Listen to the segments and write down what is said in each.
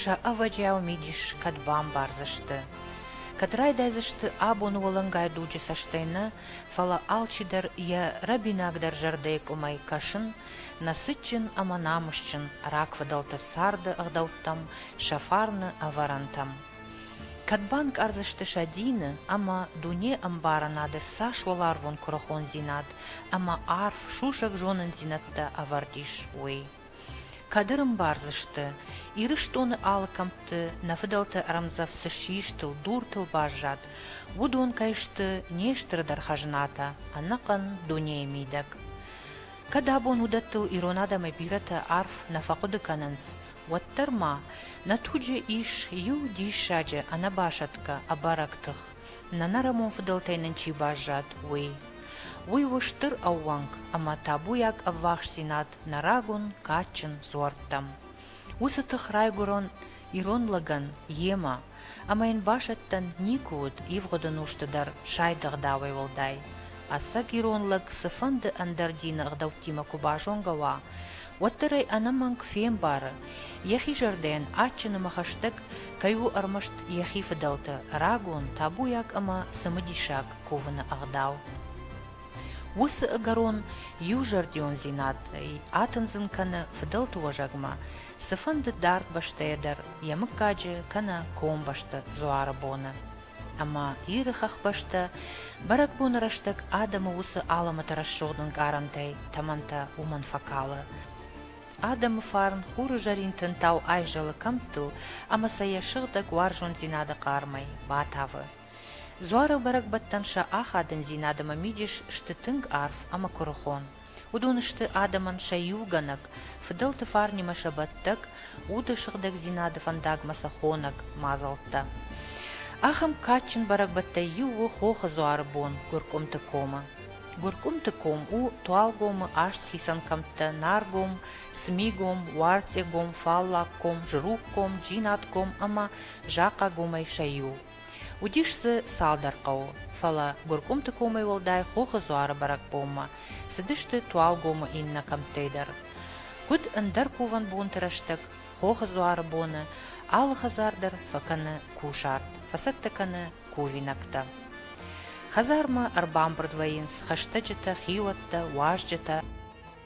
Сӕ ӕвӕджиау мидис кӕд бамбардзысты? Кӕд райдайдзысты абоны уӕлӕнгай дуджы цӕстӕй нӕ, фӕлӕ алчидӕр йӕ рӕбинагдӕр зӕрдӕйы къуымӕй кӕсын, нӕ цытджын ӕмӕ намысджын рагфыдӕлты царды ӕгъдӕуттӕм, сӕ фарны ӕвӕрӕнтӕм. Кӕд банкъардзысты сӕ дины ӕмӕ дуне ӕмбарынады цас уӕларвон куырыхондзинад ӕмӕ арф сусӕг зонындзинӕдтӕ ӕвӕрд ис, уый. Кӕд ӕрӕмбардзысты, Ирыстоны алы кӕмтты нӕ фыдӕлты ӕрӕмдзӕф цы ссистыл, дуртыл баззад, уыдон кӕй сты не стырдӕр хӕзнатӕ, ӕнӕхъӕн дунейы мидӕг. Кӕд абон уыдӕттыл ирон адӕмӕй бирӕтӕ арф нӕ фӕхъуыды кӕнынц, уӕддӕр ма нӕ туджы ис иу диссаджы ӕнӕбасӕтгӕ ӕбӕрӕг тых, нӕнӕрӕмон фыдӕлтӕй нын чи баззад, уый. Уый у стыр ӕууӕнк ӕмӕ табуйаг ӕввахсдзинад нӕ рагон кадджын дзуӕрттӕм. Уыцы тых райгуырон ирон лӕгӕн йемӕ, ӕмӕ йын басӕттӕн никуы уыд ивгъуыды нозты дӕр сайдыгъ дауӕй уӕлдай. Ӕцӕг ирон лӕг цыфӕнды ӕндӕр дины ӕгъдӕуттимӕ куы базонгӕ уа, уӕддӕр ӕй ӕнӕмӕнг фембары, йӕхи зӕрдӕйӕн адджыныма хӕстӕг кӕй у ӕрмӕст йӕхи фыдӕлты рагон, табуйаг ӕмӕ цымыдисаг кувыны ӕгъдау. Уыцы ӕгӕрон иузӕрдиондзинадӕй атындзын кӕны фыдӕлты уӕзӕгмӕ, цыфӕнды дард бӕстӕйӕ дӕр йӕ мыггаджы кӕнӕ комбӕсты дзуары боны. Ӕмӕ Иры хӕхбӕстӕ бӕрӕгбоны рӕстӕг адӕмы уыцы алӕмӕты рӕсугъд ӕнкъарӕнтӕй тӕмӕнтӕ уымӕн фӕкалы. Адӕмы фарн хуры зӕрин тынтау айзӕлы кӕмттыл ӕмӕ сӕ йӕ сыгъдӕг уарзондзинады хъармӕй батавы. Дзуары бӕрӕгбӕттӕн сӕ ахадындзинад ӕмӕ мидис сты тынг арф ӕмӕ куырыхон. Уыдон сты адӕмӕн сӕ иугӕнӕг, фыдӕлты фарнимӕ сӕ бӕттӕг, уды сыгъдӕгдзинады фӕндагмӕ сӕ хонӕг мадзӕлттӕ. Ахӕм кадджын бӕрӕгбӕттӕй иу у Хохы дзуары бон Гуыркъуымты комы. Гуыркъуымты ком у Туалгомы аст хицӕн кӕмттӕ Наргом, Смигом, Уарцъегом, Фаллагком, Жругком, Джинатком ӕмӕ Захъагомӕй сӕ иу. Уыдис дзы цалдӕр хъӕуы, фӕлӕ Гуыркъуымты комӕй уӕлдай Хохы Дзуары бӕрӕгбонмӕ цыдысты Туалгомы иннӕ кӕмттӕй дӕр. Куыд ӕндӕр кувӕн бонты рӕстӕг, Хохы Дзуары боны алы хӕдзар дӕр фӕкӕны кусарт, фӕцӕттӕ кӕны кувинӕгтӕ. Хӕдзармӕ ӕрбамбырд вӕййынц хӕстӕджытӕ, хиуӕттӕ, уазджытӕ.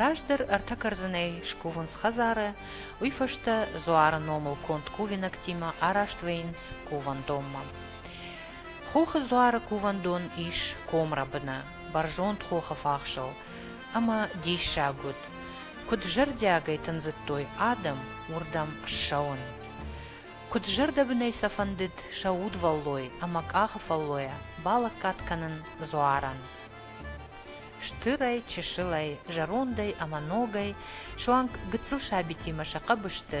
Раздӕр ӕртӕ кӕрдзынӕй скувынц хӕдзары, уый фӕстӕ дзуары номыл конд кувинӕгтимӕ араст вӕййынц кувӕндонмӕ. Хохы дзуары кувӕндон ис комрӕбыны, бӕрзонд хохы фахсыл ӕмӕ диссаг уыд, куыд зӕрдиагӕй тындзыдтой адӕм уырдӕм ссӕуын. Куыд зӕрдӕбынӕй сӕ фӕндыд сӕ удвӕллой ӕмӕ къахы фӕллойӕ балӕггад кӕнын дзуарӕн. Стырӕй, чысылӕй, зӕрондӕй ӕмӕ ногӕй суанг гыццыл сабитимӕ сӕ хъӕбысты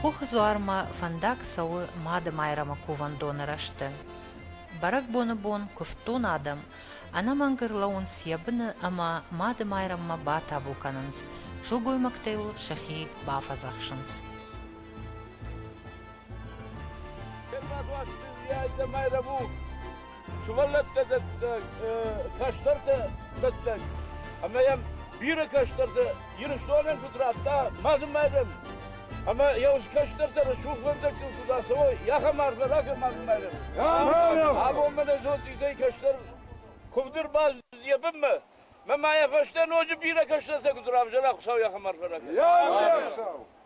Хохы дзуармӕ фӕндаг цӕуы Мады Майрӕмы кувӕндоны рӕзты. Бӕрӕгбоны бон куывддон адӕм ӕнӕмӕнгыр лӕуынц йӕ быны ӕмӕ Мады Майрӕммӕ батабу кӕнынц, сылгоймӕгтӕ йыл сӕхи бафӕдзӕхсынц. Кӕсаг уасты Майрӕму! сывӕллӕттӕ дӕттӕг, кӕстӕртӕ дӕттӕг. Ӕмӕ йӕм бирӕ кӕстӕр дзы Ирыстонӕн куыд радта мадын майдан. Ӕмӕ йӕ уыцы кӕстӕртӕ рӕсугъдвӕндӕгтыл куыд ацӕуой, йӕхӕм арф ракӕн мадын майдан. Абон мӕ нӕ зонд изӕй кӕстӕр куывд ӕрбаз йӕ бынмӕ. Мӕ ма йӕ фӕстӕ ноджы бирӕ кӕстӕртӕ куыд равзара, Хуыцау йӕхӕм арф ракӕн.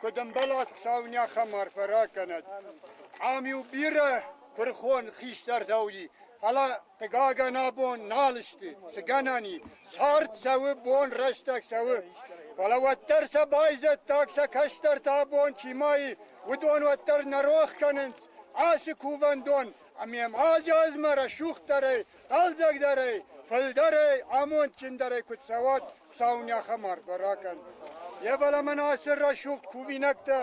Куыд ӕмбӕлат Хуыцау неахӕм арфӕ ракӕнӕд. Ам-иу бирӕ куырхон хистӕртӕ уыди, фӕлӕ, хъыгагӕн, абон нал сты. Цы гӕнӕн и, цард цӕуы, бон рӕстӕг цӕуы, фӕлӕ уӕддӕр сӕ байзӕддаг, сӕ кӕстӕртӕ абон чи ма и, уыдон уӕддӕр нӕ рох кӕнынц ацы кувӕндон, ӕмӕ йӕм аз-азмӕ рӕсугъддӕрӕй Хъӕлдзӕгдӕрӕй, фылдӕрӕй, амондджындӕрӕй куыд цӕуат Хуыцауы нӕхӕм арфӕ ракӕн. Йе баламӕн ацы рӕсугъд кувинӕгтӕ,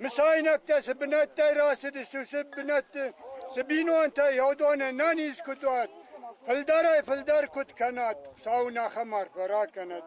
мысайнӕгтӕ цы бынӕттӕй рацыдысты, уыцы бынӕтты цы бинонтӕй йӕудоны нӕ низ куыд уат, фылдӕрӕй-фылдӕр куыд кӕнат, Хуыцауы нӕхӕм арфӕ ракӕнӕд.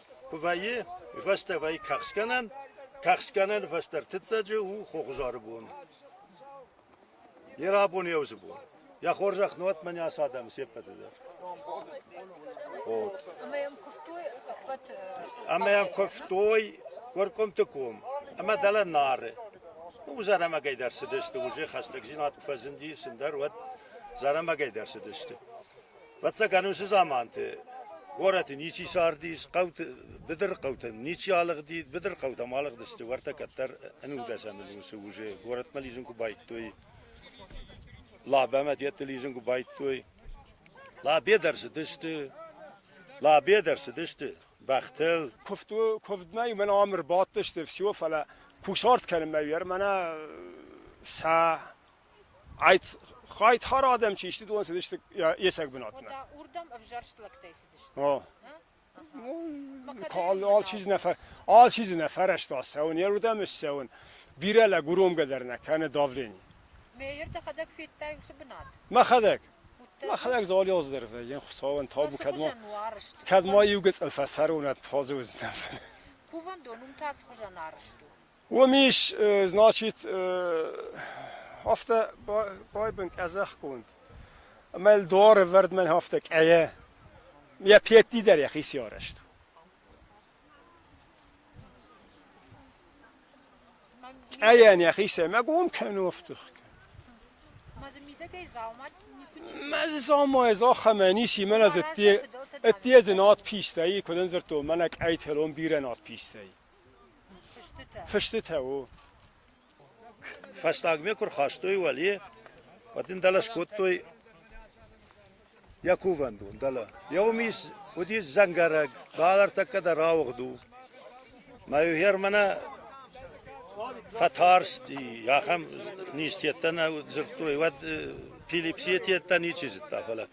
Куы вӕййы фӕстӕвӕй кӕхцгӕнӕн, кӕхцгӕнӕн фӕстӕртыццӕджы у хохзары бон. Йе рабон йе уыцы бон. Йӕ хорзӕх нуӕтмӕ не асы адӕмы се ппӕты дӕр. Ӕмӕ йӕм куывтой ӕппӕт. Ӕмӕ йӕм куывтой Горкомты ком ӕмӕ дӕлӕ Нары. У зарӕмагӕй дӕр цыдысты, уже хӕстӕгдзинад куы фӕзынди сындӕр, уӕд зарӕмагӕй дӕр цыдысты. Фӕццӕгӕн уыцы заманты горӕты ничи сардис, хъӕуты, быдыры хъӕутӕ ничи алыгъди, быдыры хъӕутӕм алыгъдысты, уӕртӕ кӕддӕр ӕнудӕсӕмӕн усы уызы горӕтмӕ лидзын куы байдтой, Лабӕмӕ дӕтты лидзын куы байдтой. Лабе дӕр цыдысты, Лабе дӕр цыдысты бӕхтыл. Куывд, куывдмӕ мӕн ам ӕрбадтысты все, фӕлӕ кусарт кӕнынмӕ мӕнӕ сӕ Այդ-хар адӕм чи сты, уыдон цыдысты йе цӕг бынатмӕ. Уырдӕм ӕвзӕрст лӕгтӕй цыдысты. Алчи дзы нӕ фӕрӕзта цӕуын, йе рдӕм ссӕуын. Бирӕ лӕг уромгӕ дӕр нӕ кӕны давлени. Мейер дӕхӕдӕг федтай уыцы бынат? Мӕхӕдӕг. Мӕхӕдӕг Золиоздӕр вӕййын, Хуыцауӕн табу, кӕд ма иу гыцӕл фӕцӕрон, ӕд фӕзы уыдзынӕн. Кувӕндон уым та цы хуызӕн арызт у? Уоми ис, значит, афтӕ байбан къӕдзӕхгонд, ӕма Эльдуары вӕрдмӕ афтӕ къайӕ, йӕ петти дӕр йӕхици арӕзт. Къайӕн йӕхи сӕмӕгом кӕнофтых. Мӕ замайы захамӕ ниси мӕн аз ӕтти ӕтти ӕз над пистӕй, куыдын дзырдтон, мӕнӕ къӕйтелон бирӕ над пистӕй. Фыстытӕ у. Фӕстагмӕ куы рхастой уӕле, уӕд ын дӕлӕ скодтой йӕ кувӕндон, дӕлӕ. Йӕ уымис уыдис дзӕнгӕрӕг, бал ӕртӕккӕ дӕр ауыгъд у. Мӕ германӕ фӕтарсти, ахӕм низтеттӕ нӕ дзырдтой, уӕд Пилипсийы теттӕ ничи зыдта, фӕлӕ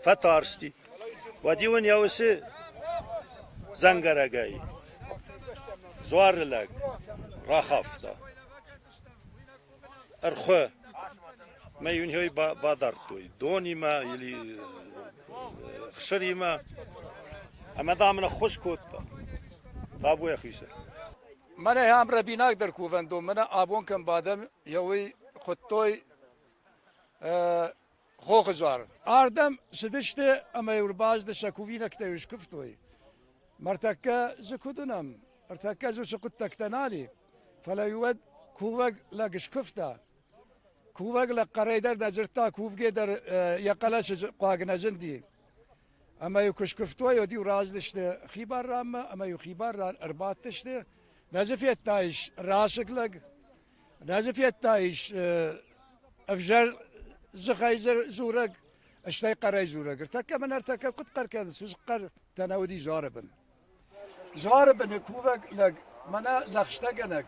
фӕтарсти. Уӕд-иу ын йӕ усы дзӕнгӕрӕгӕй дзуары лӕг рахафта. Ӕрхуы мӕ йын йой бадардтой донимӕ или хсыримӕ. Ӕмӕ, дам, ныххуыз кодта табу йӕхицӕн. Мӕнӕ ам рӕбинагдӕр кувӕндон, мӕнӕ абон кӕм бадӕм, йӕ уый хуыдтой Хохызар. Ардӕм цыдысты ӕмӕ-иу ӕрбацыды сӕ кувинӕгтӕ-иу скуывтой. Мартӕккӕ дзы куыд уынӕм? Ӕртӕккӕ дзы уыцы хъуыддӕгтӕ нали, фӕлӕ-иу уӕд кувӕг лӕг скуывта. Кувӕг лӕг хъӕрӕй дӕр нӕ дзырдта, кувгӕ дӕр йӕ хъӕлӕсы хъуаг нӕ зынди. Ӕмӕ-иу куы скуывтой, уӕд-иу раздысты хибар ранмӕ, ӕмӕ-иу хибар ран ӕрбадтысты. Нӕ дзы федтаис расыг лӕг? Раджы федтаис ӕвзӕр дзыхӕй дзурӕг, стӕй хъӕрӕй дзурӕг. Ӕртӕккӕ мын ӕртӕккӕ куыд хъӕр кӕныс, сыхъхъӕртӕ нӕ уыди зары бын. Зары быны кувӕг лӕг мӕнӕ лӕгъстӕгӕнӕг,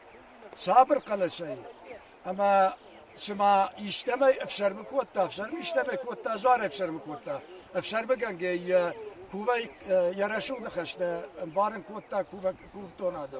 сабыр хъӕлӕсӕй ӕмӕ цыма истӕмӕй ӕфсӕрмы кодта, ӕфсӕрмы истӕмӕй кодта, зары ӕфсӕрмы кодта. Ӕфсӕрмыгӕнгӕй йӕ кувӕй йӕ рӕсугъд ныхӕстӕ ӕмбарын кодта кувӕг кувддонады.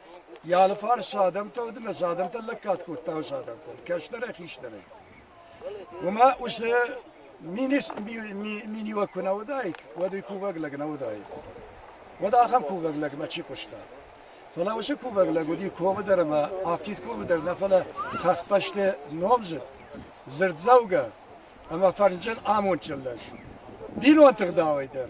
Йӕ алыфарс адӕмтӕ уыд ӕмӕ дзы адӕмтӕн лӕггад кодта уыцы адӕмтӕн, кӕстӕрӕй, хистӕрӕй. Уымӕ уыцы миниуӕг куы нӕ уыдаид, уӕд уый кувӕг лӕг нӕ уыдаид. Уӕд ахӕм кувӕг лӕгмӕ чи хъуыста? Фӕлӕ уыцы кувӕг лӕг уыди комы дӕр ӕмӕ афтид комы дӕр нӕ, фӕлӕ хӕхбӕсты номдзыд, дзырддзӕугӕ ӕмӕ фӕрнджын амондджын лӕг. Бинонты гъдауӕй дӕр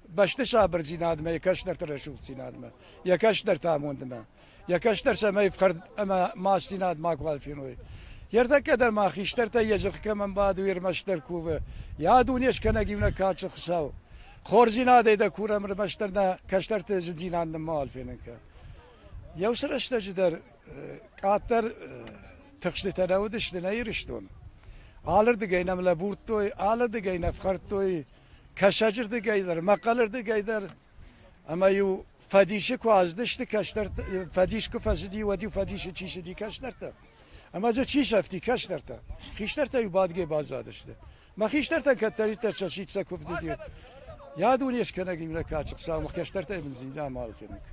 бӕсты сабырдзинадмӕ, йӕ кӕстӕрты рӕсугъддзинадмӕ, йӕ кӕстӕрты амондмӕ, йӕ кӕстӕр цӕмӕй ӕфхӕрд ӕмӕ мацдзинад макуал феной. Йе ртӕккӕ дӕр ма хистӕртӕй йӕ зӕхх кӕмӕн бады, уе рмӕстдӕр кувы. Йӕ дуне скӕнӕг иунӕг кадджын Хуыцау. Хорздзинадӕй дӕ курӕм, ӕрмӕстдӕр нӕ кӕстӕрты зындзинад нын мауал фенын кӕн. Иу цы рӕстӕджы дӕр къаддӕр тыхстытӕ нӕ уыдысты нӕ Ирыстон. Алырдыгӕй нӕм лӕбурдтой, алырдыгӕй нӕ фхӕрдтой кӕсаджы рдыгӕй дӕр, мӕхъӕлы рдыгӕй дӕр, ӕмӕ-иу фӕдисы куы аздысты кӕстӕртӕ, фӕдис куы фӕзыди, уӕд-иу фӕдисы чи цыди кӕстӕртӕ, ӕмӕ дзы чи сӕфти кӕстӕртӕ, хистӕртӕ-иу бадгӕ баззадысты. Мӕ хистӕртӕн кӕддӕриддӕр сӕ ситсӕ куывд уыди. Йӕ дуне скӕнӕг им нӕ качы, Хуыцау мӕ хӕстӕртӕй бын зин амал кӕнӕг.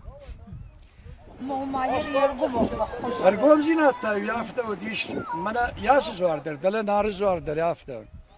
Нома йӕ йе ргомон баххуыс. Ӕргомдзинад та-иу афтӕ уыдис, мӕнӕ йӕ цы дзуар дӕр, дӕлӕ Нары дзуар дӕр афтӕ.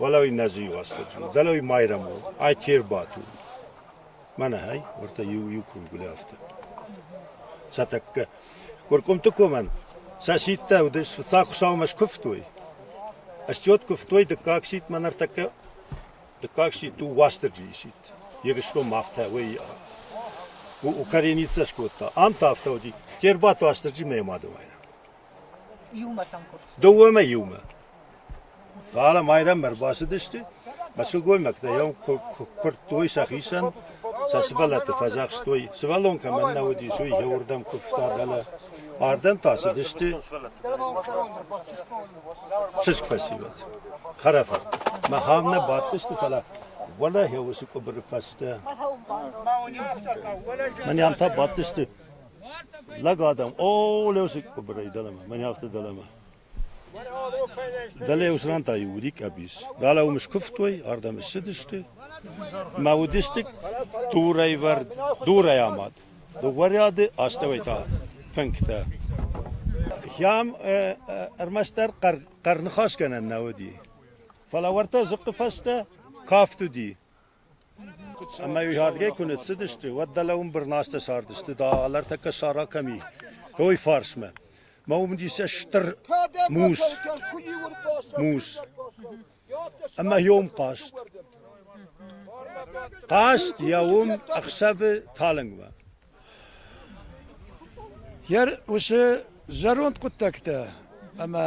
Уӕлӕуи нӕзы иуасфӕдзин, дӕлӕуи майрӕмон, ай ке рбатур. Мӕнӕ, ай, уӕртӕ иу-иу кургуле афтӕ. Сӕ тӕккӕ Куыркъуымты комӕн сӕ сидтӕ уыдис, фыццаг Хуыцаумӕ скуывтой. Ыстиот куывтой дыккаг сидт, мӕнӕ ӕртӕккӕ дыккаг сидт у Уастырджийы сидт. Ирыстон мах та уӕй у Коренницӕ скодта. Ам та афтӕ уыди, ке рбадт Уастырджи мӕ ма дымайна. Дыууӕмӕ иумӕ. Фӕлӕ майрӕммӕ ӕрбацыдысты, мӕ сылгоймӕгтӕ йӕм куырдтой сӕхицӕн, сӕ сывӕллӕтты фӕдзӕхстой, сывӕллон кӕмӕн нӕ уыдис, уый йӕуырдӕм куывта дӕлӕ. Ардӕм та цыдысты чызг фӕсивӕд, хӕрӕфырт. Махӕм нӕ бадтысты, фӕлӕ уӕлӕ уыцы къуыбыры фӕстӕ. Мӕнӕм та бадтысты Лӕг адӕм, о, лӕусыг къуыбырӕй дӕлӕмӕ, мӕн афтӕ дӕлӕмӕ. Дӕле уыцы ран та иу рикъӕб ис. Дӕле уым скуывтой, ардӕм ссыдысты. Мӕ уыдысты дурӕйвӕрд, дурӕй амад. Дыгъуарӕды астӕуӕй та фынгтӕ. Хӕм ӕрмӕстдӕр хъӕрныхасгӕнӕн нӕ уыди. Фӕлӕ уӕртӕ дзыхъхъы фӕстӕ кафт уыди. Ӕмӕ уыйхӕрдгӕй куы ныццыдысты, уӕд дӕлӕ уым бырнастӕ сардысты, дӕлӕртӕккӕ сара кӕм и, уой фарсмӕ. Мӕ уым уыдис стыр мус, мус. Ӕмӕ йом хъазт. Хъазт йӕ уым ӕхсӕвы талынгмӕ. Йӕ усы зӕронд хъуыддӕгтӕ ӕмӕ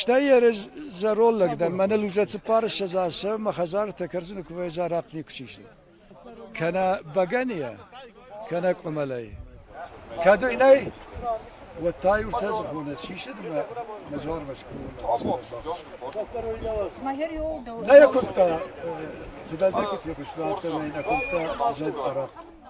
Стӕй йӕ зӕронд лӕг дӕр мӕнӕ лужӕцыппар ссӕдз азы мӕ хӕдзарытӕ кӕрдзыны куывӕйӕ арахъхъ никуы сисын. Кӕнӕ бӕгӕныйӕ, кӕнӕ къуымӕлӕй. Кӕд уый нӕй, уӕд та иутӕ зӕххоны сисыд мӕ мӕ дзуармӕ скъуыдмӕ. Нӕ йӕ куымдта, цыдӕр некуыд фехъуыста, афтӕмӕй нӕ куымдта зӕд арахъхъ.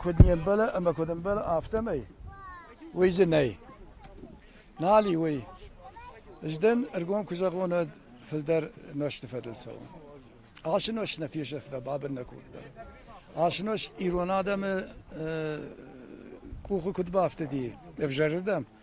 Куыд не мбӕлы ӕмӕ куыд ӕмбӕлы, афтӕмӕй, уый дзы нӕй. Нал и уый. Ӕз дӕн ӕргом куы зӕгъон, уӕд фылдӕр мӕсты фӕдыл цӕуын. Ацы нозт нӕ фесӕфта, бабын нӕ кодта. Ацы нозт ирон адӕмы къухы куыд бафтыди ӕвзӕрырдӕм,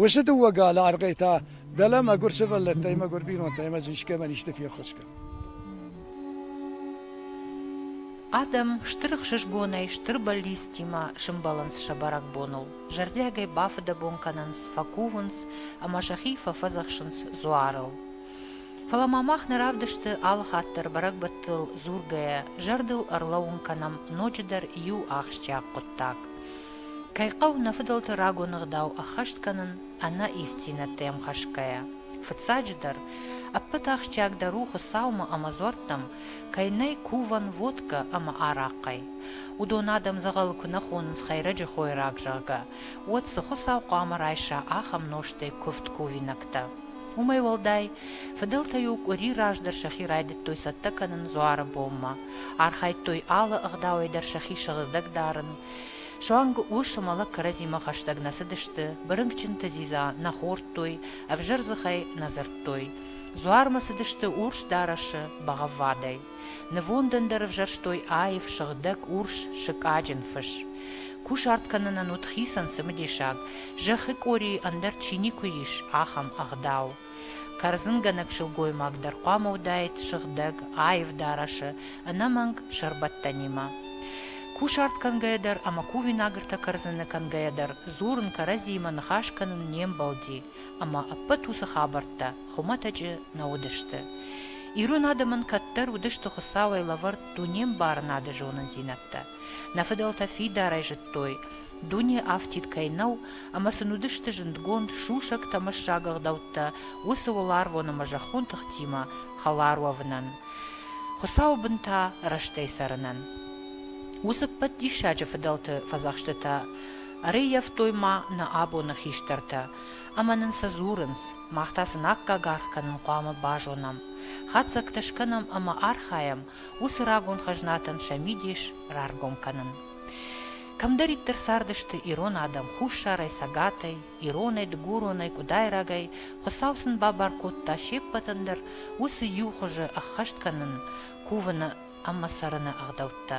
Уыцы дыууӕ галы аргъӕй та дӕлӕ мӕгуыр сывӕллӕттӕй, мӕгуыр бинонтӕй ӕмӕ дзы искӕмӕн исты феххуыс кӕн. Адӕм стыр ӕхсызгонӕй стыр бӕллицтимӕ сӕмбӕлынц сӕ бӕрӕгбоныл. Зӕрдиагӕй бафыдӕбон кӕнынц, фӕкувынц ӕмӕ сӕхи фӕфӕдзӕхсынц дзуарыл. Фӕлӕ ма мах нӕ равдысты алы хатт дӕр бӕрӕгбӕттыл дзургӕйӕ, зӕрдыл ӕрлӕууын кӕнӕм ноджыдӕр иу ахсджиаг хъуыддаг. Кӕй хъӕуы нӕ фыдӕлты рагон ӕгъдау ӕххӕст кӕнын ӕнӕ ивддзинӕдтӕм хӕсгӕйӕ. Фыццаджыдӕр, ӕппӕт ахсджиагдӕр у Хуыцаумӕ ӕмӕ дзуӕрттӕм кӕй нӕй кувӕн водкӕ ӕмӕ арахъхъӕй. Уыдон адӕм дзӕгъӕлы куы нӕ хонынц хӕйрӕджы хойраг, зӕгъгӕ, уӕд цы Хуыцау хъуамӕ райса ахӕм нозтӕй куывд кувинӕгтӕ? Уымӕй уӕлдай, фыдӕлтӕ-иу къуыри раздӕр сӕхи райдыдтой цӕттӕ кӕнын дзуары бонмӕ, архайдтой алы ӕгъдауӕй дӕр сӕхи сыгъдӕг дарын, Суанг ус ӕмӕ лӕг кӕрӕдзимӕ хӕстӕг нӕ цыдысты, бырынкъчынты дзидза нӕ хордтой, ӕвзӕр дзыхӕй нӕ дзырдтой. Дзуармӕ цыдысты урс дарӕсы бӕгъӕввадӕй. Нывондӕн дӕр ӕвзӕрстой аив, сыгъдӕг урс сыкъаджын фыс. Кусарт кӕнынӕн уыд хицӕн цымыдисаг, зӕххы къорийы ӕндӕр чи никуы ис, ахӕм ӕгъдау. Кӕрдзынгӕнӕг сылгоймаг дӕр хъуамӕ уыдаид сыгъдӕг, аив дарӕсы, ӕнӕмӕнг сӕрбӕттӕнимӕ. Кусарт кӕнгӕйӕ дӕр ӕмӕ кувинагыртӕ кӕрдзыны кӕнгӕйӕ дӕр дзурын кӕрӕдзиимӕ ныхас кӕнын не мбӕлди, ӕмӕ ӕппӕт уыцы хабӕрттӕ хуымӕтӕджы нӕ уыдысты. Ирон адӕмӕн кӕддӕр уыдысты Хуыцауӕй лӕвӕрд дунембарынады зонындзинӕдтӕ. Нӕ фыдӕлтӕ фидарӕй зыдтой, Дуне афтид кӕй нӕу, ӕмӕ сын уыдысты зындгонд сусӕгтӕ ӕмӕ сагӕгъдӕуттӕ уыцы уӕларвон ӕмӕ зӕххон тыхтимӕ хӕлар уӕвынӕн, Хуыцауы бынтӕ рӕстӕй цӕрынӕн. Уыцы ӕппӕт диссаджы фыдӕлты фӕдзӕхстытӕ ӕрӕййӕфтой ма нӕ абоны хистӕртӕ, ӕмӕ нын сӕ дзурынц, мах та сын аккаг аргъ кӕнын хъуамӕ базонӕм, хатдзӕгтӕ скӕнӕм ӕмӕ архайӕм уыцы рагон хӕзнатӕн сӕ мидис раргом кӕнын. Кӕмдӕриддӕр цардысты ирон адӕм хуссарӕй, цӕгатӕй, иронӕй, дыгуронӕй, къуыдайрагӕй, Хуыцау сын бабар кодта се ппӕтӕн дӕр уыцы иу хуызы ӕххӕст кӕнын, кувыны ӕмӕ цӕрыны ӕгъдӕуттӕ.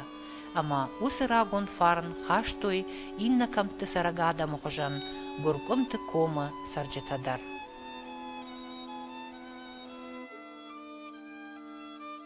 Ӕмӕ уыцы рагон фарн хастой иннӕ кӕмтты цӕрӕг адӕмы хуызӕн Гуыркъуымты комы цӕрджытӕ дӕр.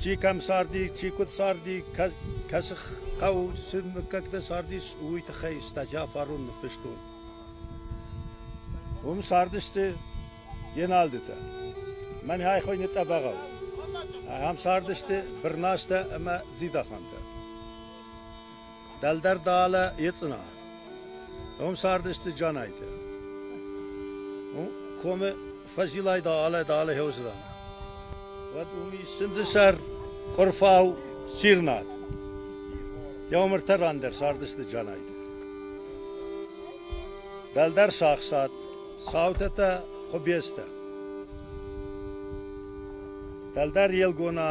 Чи кӕм царди, чи куыд царди, кӕцы хъӕу, цы мыггӕгтӕ цардис, уый тыххӕй статья фарон ныффыстон. Уым цардысты Еналдытӕ. Мӕн хай хойны тъӕбӕгау. Ахӕм цардысты Бырнастӕ ӕмӕ Дзидахантӕ. Дӕлдӕр далӕ ецъына. Ом цардысты Джанайтӕ. Комы фӕзилай далӕ далӕ хеуызран. Уӕд уми сындзысӕр къурфау сирнад. Еумыртӕ рандӕр сардысты Джанайтӕ. Дӕлдӕр сахсат, саутӕтӕ хубестӕ. Дӕлдӕр елгона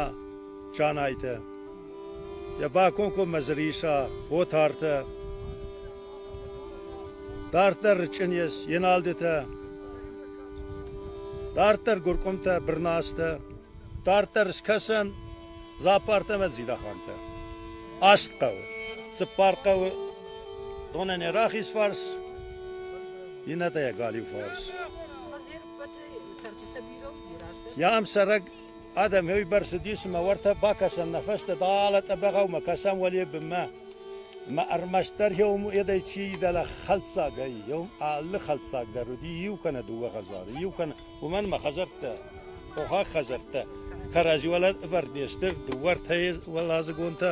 Джанайтӕ. Йӕ бакомкоммӕ дзы риса отартӕ, дарддӕр рычъынес еналдытӕ, дарддӕр гуыркъуымтӕ, бырнастӕ, дарддӕр скӕсӕн зӕппартӕ ӕмӕ дзидахантӕ. Аст хъӕуы, цыппар хъӕуы, донӕн йӕ рахиз фарс, иннӕтӕ йӕ галиу фарс. Йӕ ӕмсӕрӕг Адӕм еуебӕр цыдис ӕмӕ уӕртӕ бакӕсӕм нӕ фӕстӕ, далӕ тъӕбӕгъӕумӕ кӕсӕм уӕле бынмӕ. Ӕмӕ ӕрмӕстдӕр еум едӕй чи идӕлӕ хӕлддзаг ӕй, еум алы хӕлддзаг дӕр уыди, иу кӕнӕ дыууӕ хӕдзары, иу кӕнӕ, уымӕн ма хӕдзӕрттӕ, хохаг хӕдзӕрттӕ кӕрӕдзи уӕлӕ ӕвӕрд не сты, дыууӕ-ӕртӕ уӕладзыгонтӕ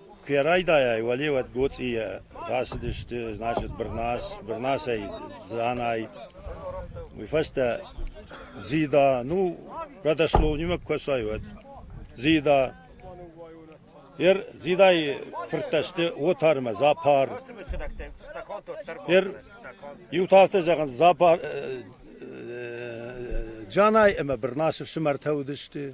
Куы райдайай, уӕлеуӕд гоцъийӕ рацыдысты, значит, Бырнас, Бырнасӕй Дзанай. Уый фӕстӕ Дзида, ну, родослов нимӕ куы кӕсай, уӕд. Дзида. Ер Дзидайы фырттӕ сты Отар ӕмӕ Запар. Ер иу та афтӕ зӕгъынц, Запар, Джанай ӕмӕ Бырнасы фсымӕртӕ уыдысты.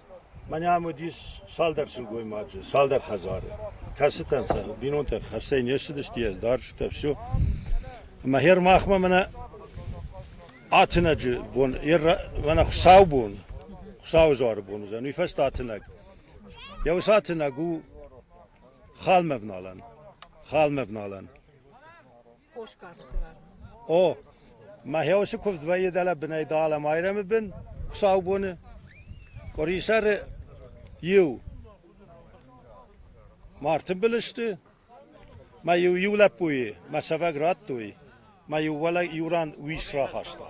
Мӕнӕ уыдис цалдӕр сылгоймаджы, цалдӕр хӕдзары, кӕцытӕн сӕ бинонтӕ хӕстӕй не ссыдысты, ӕз дӕр сытӕ все. Ӕмӕ гъер махмӕ мӕнӕ атынӕджы бон, мӕнӕ хуыцаубон, Хуыцауы дзуары бон уыдзӕн, уый фӕстӕ атынӕг. Йӕ уыцы атынӕг у халмӕ вналӕн, халмӕ вналӕн. О, мӕхе уыцы куывд вӕййы дӕлӕ бынӕй Даламайрӕмы бын, хуыцаубоны, къуырисӕры иу. Мартынбыл сты, мӕ-иу иу лӕппуйы мӕ цӕвӕг радтой, мӕ-иу уӕлӕ иу ран уис рахаста.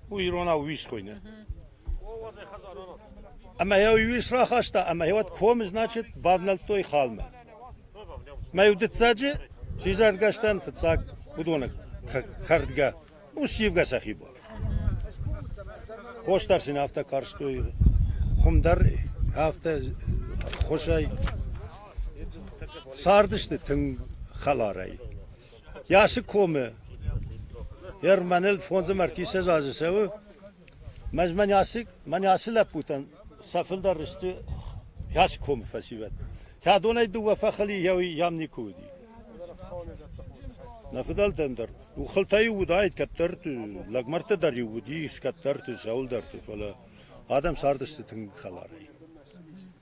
У иронау уис хуыйны. Ӕмӕ йӕ уый уис рахаста, ӕмӕ йӕ уӕд комы, значит, бавнӕлдтой халмӕ. Мӕ иу дыццаджы сидзӕргӕстӕн фыццаг уыдоны кӕрдгӕ у сивгӕ сӕхи буар. Хос дӕр сын афтӕ карстой, хуым дӕр афтӕ хосӕй цардысты тынг хӕларӕй. Йасы комы Ерманел фондзы мӕрдтисӕдз азы цӕуы, мӕ мӕн ацы лӕппутӕн сӕ фылдӕр сты йасы комы фӕсивӕд. Кӕдонӕй дыууӕ фӕхъыли иӕуи йӕм никуы уыди. Нӕ фыдӕлтӕм дӕр хъултӕ-иу уыдаид кӕддӕрты, лӕгмӕрдтӕ дӕр-иу уыдис кӕддӕрты, сӕуылдӕрты, фӕлӕ адӕм цардысты тынг хӕларӕй.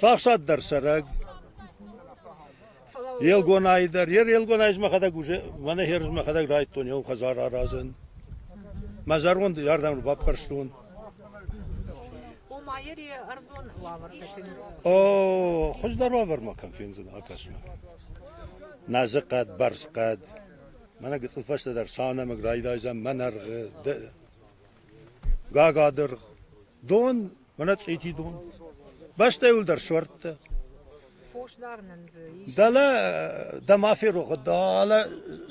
Сахсад дӕр цӕрӕг. Елгонайы дӕр. Йе Елгонайы мӕхӕдӕг уже, мӕнӕ херз мӕхӕдӕг райдтон еу хӕдзар аразын. Мӕ зӕронд ардӕм баппӕрстон. Ома ери ӕрдон уавӕртӕ кӕнын. О, хуыздӕр уавӕр ма кӕм фендзӕн, акӕс-ма. Назы хъӕд, бӕрз хъӕд. Мӕнӕ гыцъыл фӕстӕдӕр саунӕмыг райдайдзӕн мӕнӕргъы, гага дыргъ. Дон уонӕ цъити дон. Бӕстӕйулдӕр суӕрдтӕ. Дӕлӕ дӕ ма ферогъӕ, дӕлӕ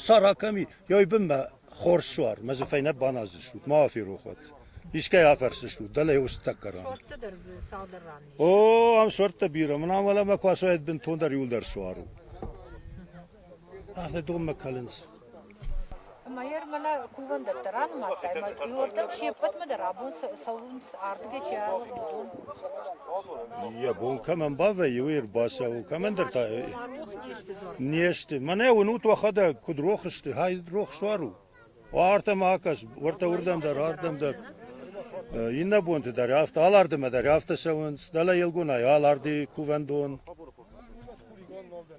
сара кӕми, ёй бунмӕ хорз суар, мӕ дзы фӕйнӕ баназдзыстут, ма аферохуат. Искӕй афӕрсдзыстут, дӕлӕ еу стӕггӕ ран. Суӕрдтӕ дӕр дзы цалдӕр ран ес. О, ам суӕрдтӕ бирӕ, мын ам уӕлӕмӕ ку ацуаид бунтондӕр иулдӕр суару. Афтӕ донмӕ кӕлынц. Ӕмӕ йӕ мӕнӕ кувӕндӕттӕ ранымадтай, ӕмӕ иуӕрдӕм се ппӕтмӕ дӕр абон цӕуынц, ардыгӕй чи алыгъд, уыдон. Йӕ бон кӕмӕн бавӕййы, уый ӕрбацӕуы, кӕмӕндӕр та. Не сты. Мӕнӕ уынут, уӕхӕдӕг куыд рох сты, хай рох суар у. Уартӕм акӕс, уӕртӕ уырдӕм дӕр, ардӕм дӕр. Иннӕ бонты дӕр афтӕ, алардымӕ дӕр афтӕ цӕуынц. Дӕлӕ Елгонайы аларды кувӕндон.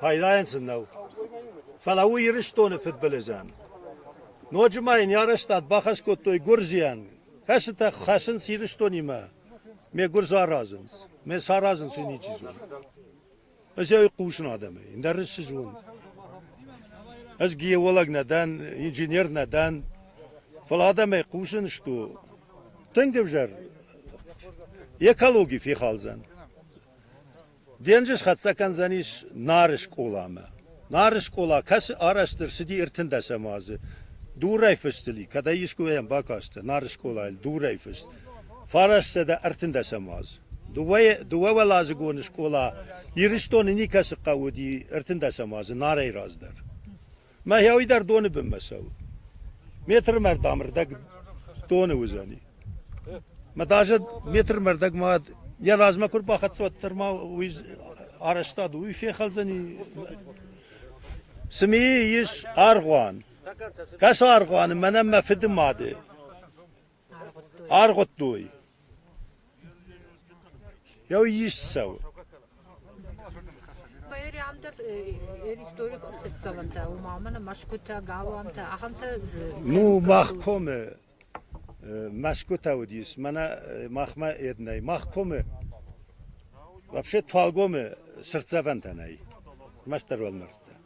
пайдайӕн сын нӕу. Фӕлӕ у Ирыстоны фыдбылызӕн. Ноджы ма йын йӕ арӕзтад бахӕс кодтой гуырдзийӕн, кӕцытӕ хӕцынц Ирыстонимӕ, ме гуырдз аразынц, ме саразынц уый ничи зоны. Ӕз ӕй хъусын адӕмӕй, ӕндӕр ӕз цы зонын? Ӕз геолог нӕ дӕн, инженер нӕ дӕн, фӕлӕ адӕмӕй хъусын сту, тынг ӕвзӕр экологи фехалдзӕн. Денджыз хӕццӕ кӕндзӕнис Нары скъоламӕ. Нары скъола кӕцы арӕзт ӕрцыди ӕртындӕсӕм азы дурӕй фыстыл и, кӕдӕй искуыйӕм бакастӕ Нары скъолайыл дурӕй фыст, фараст сӕдӕ ӕртындӕсӕм аз. Дыууӕуӕладзыгоны скъола Ирыстоны никӕцы хъӕуы уыди ӕртындӕсӕм азы Нарӕй раздӕр. Мӕхӕуи дӕр доны бынмӕ цӕуы. Метрмӕрдӕм ӕрдӕг доны уыдзӕни. Мӕ даже метрмӕрдӕг ма йӕ размӕ куы рбахӕццӕ, уӕддӕр ма уый арӕзтад уый фехӕлдзӕни. Цы ми ис аргъуан. Кӕс аргъуаны мӕнӕн мӕ фыды мады. Аргъуыдтой. Йӕ ис цӕуы. Ну, мах комы мӕсгуытӕ уыдис, мӕнӕ махмӕ ед нӕй. Мах комы вообще Туалгомы цыртдзӕвӕнтӕ нӕй, мастдӕр уӕлмӕрдтӕ.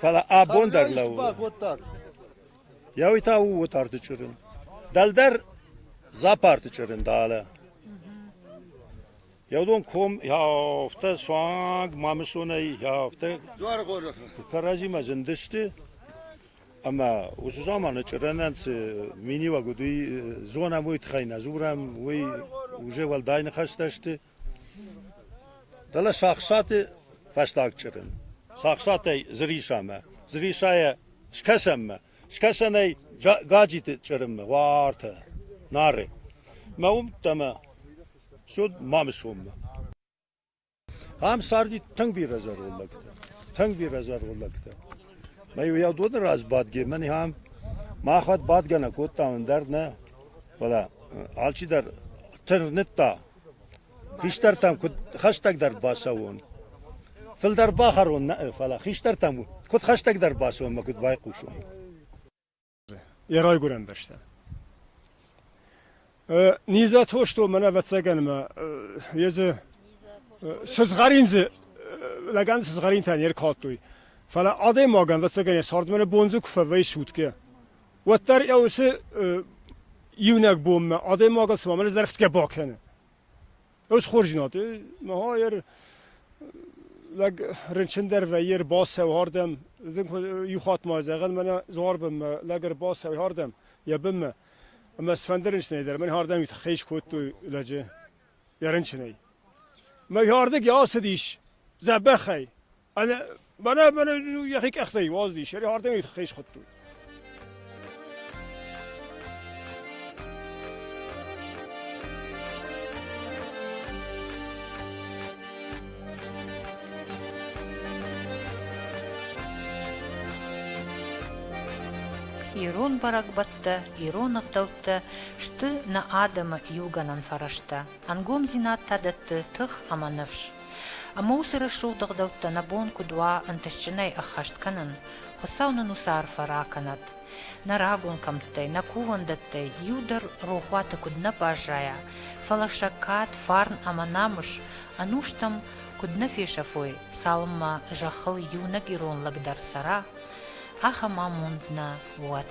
Фӕлӕ абон дӕр лӕууы. Йӕ уый та у отарты чъырын. Дӕлдӕр запарты чъырын далӕ. Йӕ уыдон ком йӕ афтӕ суанг Мамысонӕй йӕ афтӕ кӕрӕдзимӕ зындысты. Ӕмӕ уыцы заманы чъырынӕн цы миниуӕг уыд, уый зонӕм, уый тыххӕй нӕ дзурӕм, уый уже уӕлдай ныхӕстӕ сты. Дӕлӕ сахсаты фӕстаг чъырын. Сахсатӕй Зырисамӕ. Зырисайӕ скӕсӕнмӕ. Скӕсӕнӕй Гаджиты чъырынмӕ. Уартӕ. Нары. Мӕ уымдтӕ мӕ все Мамысоммӕ. Ам царди тынг бирӕ зӕронд лӕгтӕ. Тынг бирӕ зӕронд лӕгтӕ. Мӕ-иу йӕ доны раз бадге, мӕн ам махуӕт бадгӕ нӕ кодтам, ӕндӕр нӕ. Фӕлӕ алчидӕр тырныдта Хистӕртӕм куыд хӕстӕгдӕр бацӕуон? Фылдӕр бахӕрон нӕ'ы, фӕлӕ хистӕртӕм куыд хӕстӕгдӕр бацӕуон мӕ куыд байхъусон? Йӕ райгуырӕн бӕстӕ. Низӕ тосто мӕнӕ ӕвӕццӕгӕн мӕ йе дзы сызгъӕрин дзы лӕгӕн сызгъӕринтӕ не ркалдтой. Фӕлӕ адӕймагӕн, ӕвӕццӕгӕн, йӕ цардмӕ бон дзы куы фӕвӕййы сутгӕ, уӕддӕр ӕ уси иунӕг бонмӕ адӕймагӕн цума мӕнӕ зӕрхитгӕ бакӕнӕ. Ӕз хорзинад, маха ӕр лӕг рынчындӕр вӕййи ӕрбацӕуй ардӕм, ихуатмӕ зӕгъӕн мӕнӕ Зуарбынмӕ лӕг ӕрбацӕуй ардӕм йӕ бынмӕ, ӕмӕ цыфӕнды рынчынӕй дӕр мӕн ардӕм тыххӕй искодтой лӕджы йӕ рынчынӕй. Мӕ ардыг йӕ ацыдис дзӕбӕхӕй, Бана бана йӕхи къӕхтӕй уаздис, йӕ ардӕм хӕй схуыдтой. ирон бӕрӕгбӕттӕ, ирон ӕгъдӕуттӕ сты нӕ адӕмы иугӕнӕн фӕрӕзтӕ. ӕнгомдзинад та дӕтты тых ӕмӕ ныфс. Ӕмӕ уыцы рӕсугъд ӕгъдӕуттӕ нӕ бон куыд уа ӕнтыстджынӕй ӕххӕст кӕнын, Хуыцау нын уыцы арфӕ ракӕнӕд. Нӕ рагон кӕмттӕй, нӕ кувӕндӕттӕй иу дӕр рохуаты куыд нӕ баззайа, фӕлӕ сӕггат, фарн ӕмӕ намыс, ӕнустӕм куыд нӕ фесӕфой, цалынмӕ зӕххыл иунӕг ирон лӕг дӕр цӕра, ахӕм амонд нӕ уӕд.